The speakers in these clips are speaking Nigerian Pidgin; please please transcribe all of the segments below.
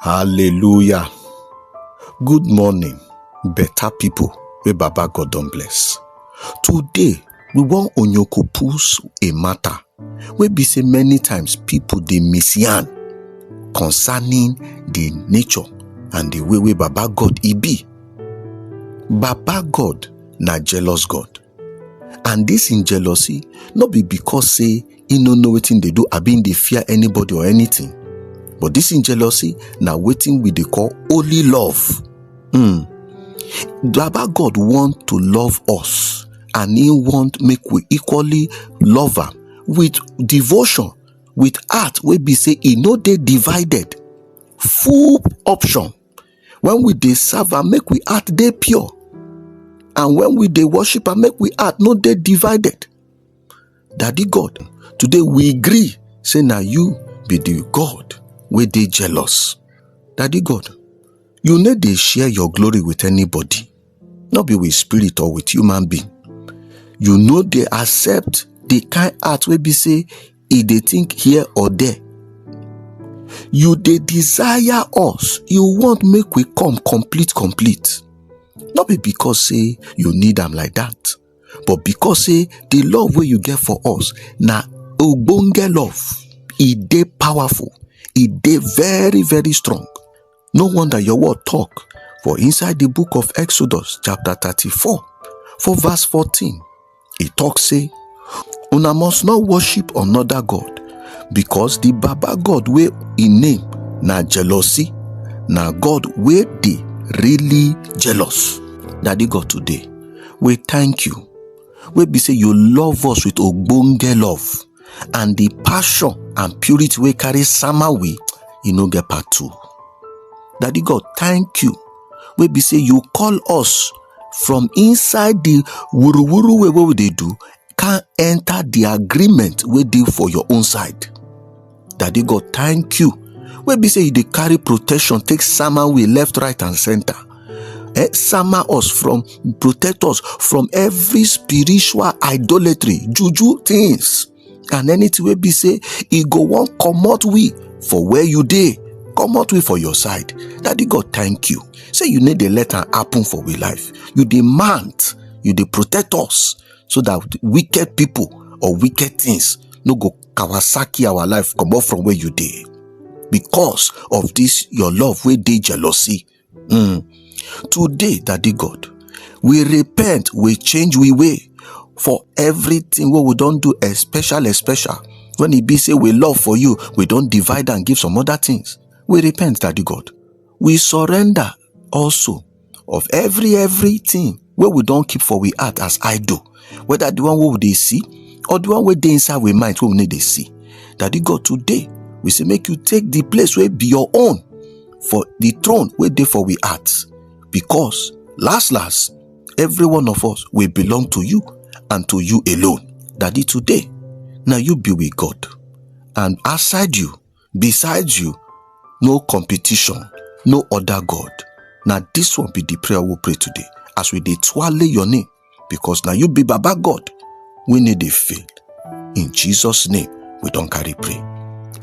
Hallelujah. Good morning, better people wey Baba God don bless. Today, we wan onyokopus a matter wey be say many times people dey misyan concerning the nature and the way wey Baba God e be. Baba God na jealous God. and dis im jealousy no be because say im no know wetin dey do abi im dey fear anybody or anything but dis im jealousy na wetin we dey call holy love hmm baba god want to love us and he want make we equally love am with devotion with heart wey be say e no dey divided full option when we dey serve am make we heart dey pure and when we dey worship am make we heart no dey divided daddy god today we agree say na you be the god wey dey jealous daddy god you no dey share your glory with anybody no be with spirit or with human being you no dey accept the kind heart wey be say e dey think here or there you dey desire us you want make we come complete complete no be because say you need am like that but because say the love wey you get for us na ogbonge love e dey powerful e dey very very strong No wonder your word talk for inside the book of Exodus, chapter 34, for verse 14. It talks, say, Una must not worship another God, because the Baba God where in name na jealousy, na God where they really jealous. Daddy God today, we thank you. We be say you love us with ogbonge love. and the passion and purity wey carry sama we e no get part two daddy god thank you wey be say you call us from inside the wuruwuru way wey we dey do can enter the agreement wey dey for your own side daddy god thank you wey be say you dey carry protection take sama we left right and center eh, summer us from protect us from every spiritual idolatry juju things and anything wey be say e go wan comot we for where you dey comot we for your side daddy god thank you say you no dey let am happen for we life you dey mount you dey protect us so that wicked people or wicked things no go kawasaki our life comot from where you dey because of this your love wey dey jealousy um today daddy god we repent we change we way for everything wey we don do especially especially when e be say we love for you we don divide and give some other things we repent daddy god we surrender also of every everything wey we don keep for we heart as idol whether the one wey we dey see or the one wey dey inside we mind wey we no dey see daddy god today we say make you take the place wey be your own for the throne wey dey for we heart because last last every one of us will belong to you and to you alone daddy today na you be we god and outside you Beside you, no competition, no other God. Na this one be the prayer we pray today. As we dey twale your name, because na you be Baba God. We need dey fail. In Jesus' name, we don carry pray.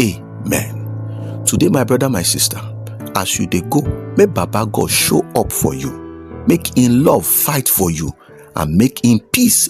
Amen. Today, my brother, my sister, as you dey go, make Baba God show up for you. Make in love fight for you and make in peace